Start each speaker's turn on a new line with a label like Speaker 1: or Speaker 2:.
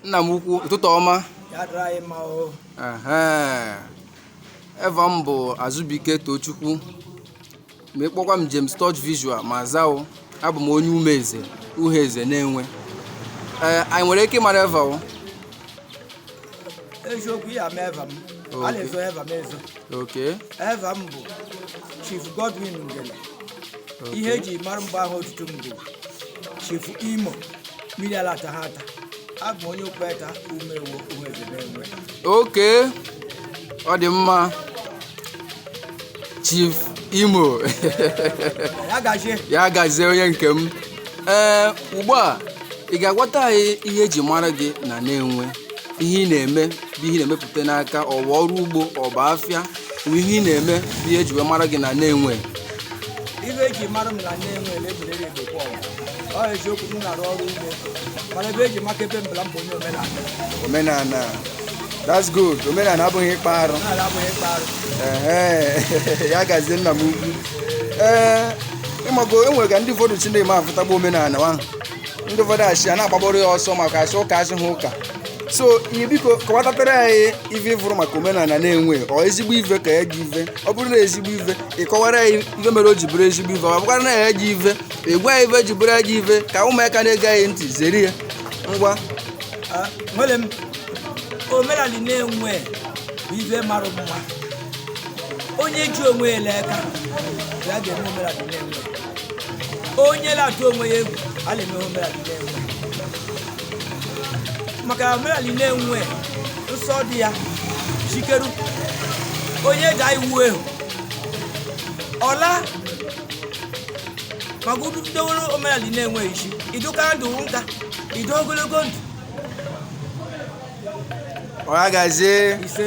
Speaker 1: nna m ukwu ụtụtụ ọma eva m bụ azụbike tochukwu ma ị kpọkwa m James Touch Visual m aza o abụ m onye umeeze uhueze nenwe anyị nwere ike ịmara eva
Speaker 2: eziokwu ị ya-ama eva m a na-ezo eva m ezo Okay.
Speaker 1: eva m bụ
Speaker 2: chief godwin ngele ihe eji mara m bụ eva otutu m bụ chief imo mmiri ala ata ha ata abụ m onye okpeta umuewo uhueze nenwe Okay.
Speaker 1: Ọ dị mma. chief imo ya gazie ya gazie onye nke m ee ugbu a ị ga-agwata anyị ihe eji mara gị na nenwe ihe ị na-eme bụ ihe ị na-emepụta n'aka ọ bụ ọrụ ugbo ọ bụ afịa bụ ihe ị na-eme bụ ihe eji wee mara gị na nenwe ife
Speaker 2: eji mara m na nenwe na ebe lile ebekwa ọgụ ọ eziokwu m na-arụ ọrụ ugbo mana ebe eji maka ebe mara m bụ onye omenala
Speaker 1: omenala that's good omenala abụghị ịkpa arụ omenala abụghị ịkpa arụ Ehe, ya gazie nna m ukwu ee ị mago e nwere ka ndị ụfọdụ si na-eme afụtagbu omenala ahụ ndị ụfọdụ asị a na-agbaboro ya ọsọ maka a sị ụka a sị ha ụka so ihe biko kọwatatara anyị ife ị fụrụ maka omenala nenwe ọ ezigbo ife ka ọ ajọ ife ọ bụrụ na ezigbo ife ị kọwara anyị ife mere o ji bụrụ ezigbo ife ọ bụkwara na ọ ajọ ife ị gwa anyị ife ji bụrụ ajọ ife ka ụmụaka na-ege gị ntị zere ya ngwa Ah, nwere
Speaker 2: m omenala nenwe bụ ife mara mma onye ji onwe ya l'aka ya ga-eme omenala nenwe onye na-atụ onwe ya egwu a na-eme omenala nenwe maka omenala nenwe nsọ dị ya chikeru onye daa iwu ehu ọla maka unu bidoworo omenala nenwe isi idoka ndụ nka ido ogologo ndụ
Speaker 1: ọ ya
Speaker 2: gazie ise